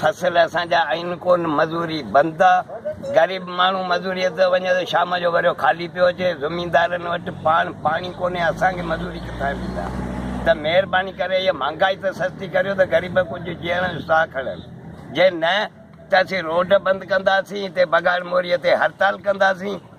فصل اسان جا آهن ڪونه، مزوري بند آ، غريب ماڻهو مزوريء تي وڃي ته شام جو وريو خالي پيو اچي، زميندارن وٽ پاڻ پاڻي ڪونهي، اسان کي مزوري ڪٿان ڏيندا؟ ته مهرباني ڪري هيء مهانگائي ته سستي ڪريو ته غريب ڪجهه جيئڻ جو ساهه کڻن، جي نه ته اسين روڊ بند ڪنداسين، هتي بگاڙ موريء تي هڙتال ڪنداسين.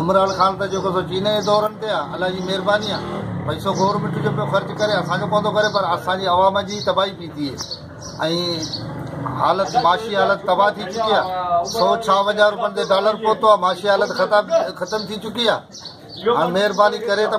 عمران خان ته جيڪو سو چينه جي دورن تي آ الله جي مهرباني آ پئسو گورمينٽ جو پيو خرچ ڪري اسان کي پوندو ڪري پر اسان جي عوام جي تباهي پي ٿئي ۽ حالت معاشي حالت تباهه ٿي چڪي آ سو ڇا وجهه روپين تي ڊالر پهتو آ معاشي حالت خطا ختم ٿي چڪي آ هاڻ مهرباني ڪري ته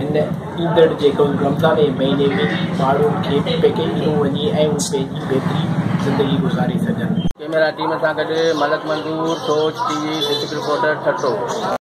هن ايندڙ جيڪلن رمضان جي مهيني ۾ ئي ماڻهن کي پيڪي ڏنو وڃي ۽ هو پنهنجي بهترين زندگي گذاري سگهن. ڪيميرا ٽيم سان گڏ Malik Manzoor, Soch T V district reporter, Thatta.